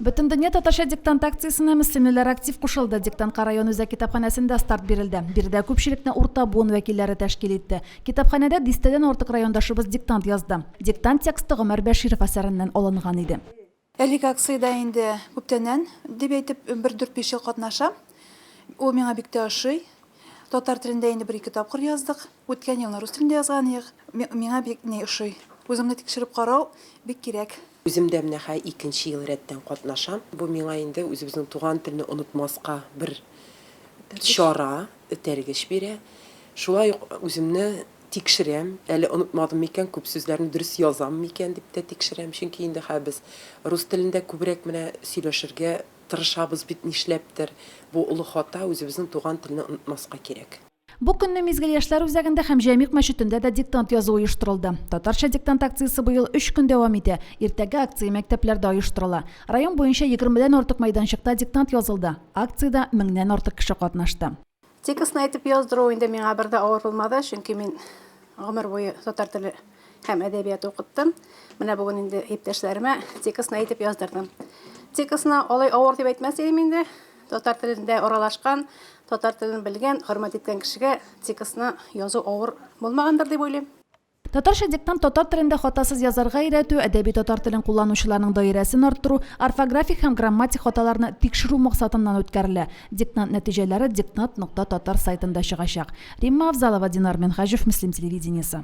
Бөтендөнья татарча диктант акциясенә мөслимлеләр актив кушылды. Диктантка район үзәк китапханәсендә старт бирелде. Биредә күпчелекне урта буын вәкилләре тәшкил итте. Китапханәдә дистәдән артык райондашыбыз диктант язды. Диктант тексты Гомәр Бәширов әсәреннән алынган иде. Әлеге акциядә инде күптәннән, дип әйтеп, бер дүрт-биш ел катнашам. Ул миңа бик тә ошый. Татар телендә инде бер-ике тапкыр яздык. Үткән елны рус телендә язган идек. Миңа бик ни ошый. Үзеңне тикшереп карау бик кирәк. Үзем дә менә хәй икенче ел рәттән катнашам. Бу миңа инде үзебезнең туган телне онытмаска бер чара, этәргеч бирә. Шулай ук үземне тикшерәм, әле онытмадым микән, күп сүзләрне дөрес язам микән дип тә тикшерәм. Чөнки инде хәй без рус телендә күбрәк менә сөйләшергә тырышабыз бит нишләптер. Бу олы хата, үзебезнең туган телне онытмаска кирәк. Бу көнне Мизгел яшьләр үзәгендә һәм Җәмигъ мәчетендә дә диктант язу оештырылды. Татарча диктант акциясе быел өч көн дәвам итә. Иртәге акция мәктәпләрдә оештырыла. Район буенча егермедән артык мәйданчыкта диктант язылды. Акциядә меңнән артык кеше катнашты. Текстны әйтеп яздыру инде миңа бер дә авыр булмады, чөнки мин гомер буе татар теле һәм әдәбияты укыттым. Менә бүген инде иптәшләремә текстны әйтеп яздырдым. Текстны алай авыр дип әйтмәс идем инде, Татар телендә аралашкан, татар телен белгән, хөрмәт иткән кешегә текстны язу авыр булмагандыр дип уйлыйм. Татарча диктант татар телендә хатасыз язарга өйрәтү, әдәби татар телен кулланучыларның даирәсен арттыру, орфографик һәм грамматик хаталарны тикшерү максатыннан үткәрелә. Диктант нәтиҗәләре Диктант нокта татар сайтында чыгачак. Римма Авзалова, Динар Минһаҗев, Мөслим телевидениесе.